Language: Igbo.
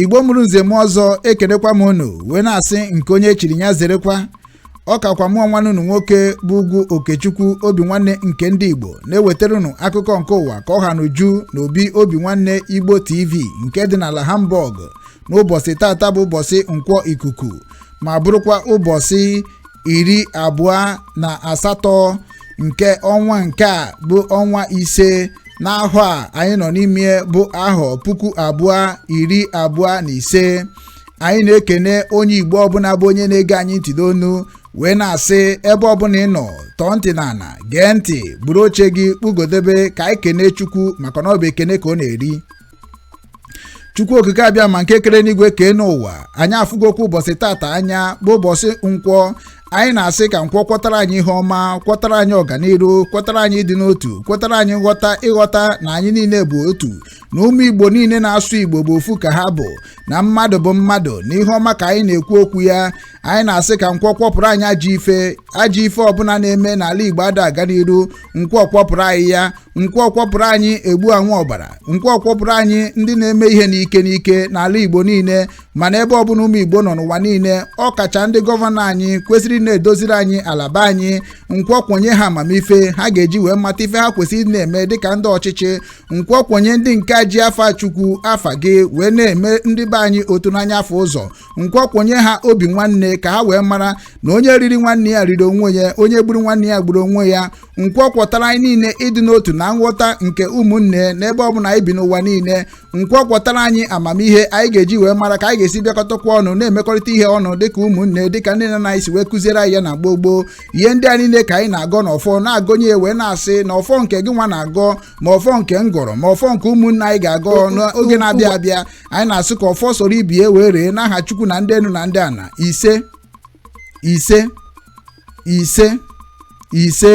igbo mụrụ nze mụọ ọzọ ekenekwa m unu wee na-asị nke onye chiri ya zerekwa ọ kakwa mụwa nwanne unu nwoke bụ ugwu okechukwu obi nwanne nke ndị igbo na-ewetara unu akụkọ nke ụwa ka ọ ha n'uju na obi obi nwanne igbo tv nke dị n'ala hamburg n'ụbọchị tata bụ ụbọchị nkwọ ikuku ma bụrụkwa ụbọchị iri abụọ na asatọ nke ọnwa nke a bụ ọnwa ise n'ahọ a anyị nọ n'ime bụ ahọ puku abụọ iri abụọ na ise anyị na-ekene onye igbo ọbụla bụ onye na-ege anyị ntị n'onu wee na-asị ebe ọbụla ị nọ tọọ ntị n'ala gee ntị buru oche gị kpugodebe ka anyị kene chukwu maka na ọ bụ ekene ka ọ na-eri chukwu okike abịama nke kere enuigwe kee enuụwa anyị afụgokwa ụbọchị tata anya bụ ụbọchị nkwọ anyị na-asị ka nkwọ kwọtara anyị ihe ọma kwọtara anyị ọganiru kwọtara anyị ịdị n'otu kwọtara anyị ịghọta na anyị niile bụ otu na ụmụ igbo niile na-asụ igbo bụ ofu ka ha bụ na mmadụ bụ mmadụ na ihe ọma ka anyị na-ekwu okwu ya anyị na-asị ka nkwọ kwọpụrụ anyị ajọ ife ajọ ife ọbụla na-eme n'ala igbo ada aga n'iru nkwọ kwọpụrụ anyị ya nkwọ kwọpụrụ anyị egbu anwụ ọbara nkwọ kwọpụrụ anyị ndị na-eme ihe n'ike n'ike n'ala igbo niile ma n'ebe ọbụla ụmụ igbo nọ n'ụwa niile ọ kacha ndị gọvanọ anyị kwesịrị na-edoziri anyị ala be anyị nkwọ kwọnye ha amamife ha ga-eji wee mata ife ha kwesịrị na-eme dịka ndị ọchịchị nkwọ kwọnye ndị nke ji afa chukwu afa gị wee na-eme ndị be anyị otu n'anya afụ ụzọ nkwọ kwọnye ha obi nwanne ka ha wee mara na onye riri nwanne ya riri onwe ya onye gburu nwanne ya gburu onwe ya nkwọ kwọtara anyị niile ịdị n'otu na nghọta nke ụmụnne n'ebe ọ bụla anyị bi n'ụwa niile nkwọ kwọtara anyị amamihe anyị ga-eji wee mara ka anyị ga-esi bịakọtakwa ọnụ na-emekọrịta ihe ọnụ dịka ụmụnne dịka ndị nna anyị si wee kụziere anyị ya na gboo gboo ihe ndị a niile ka anyị na-agọ n'ọfọ na-agọnye wee na-asị na ọfọ nke gị nwa na-agọ ma ọfọ nke m gọrọ ma ọfọ nke ụmụnne anyị ga-agọ n'oge na-abịa abịa anyị na-asị ka ọfọ soro ibe ya wee ree n'aha chukwu na ndị enu na ndị ana ise ise ise ise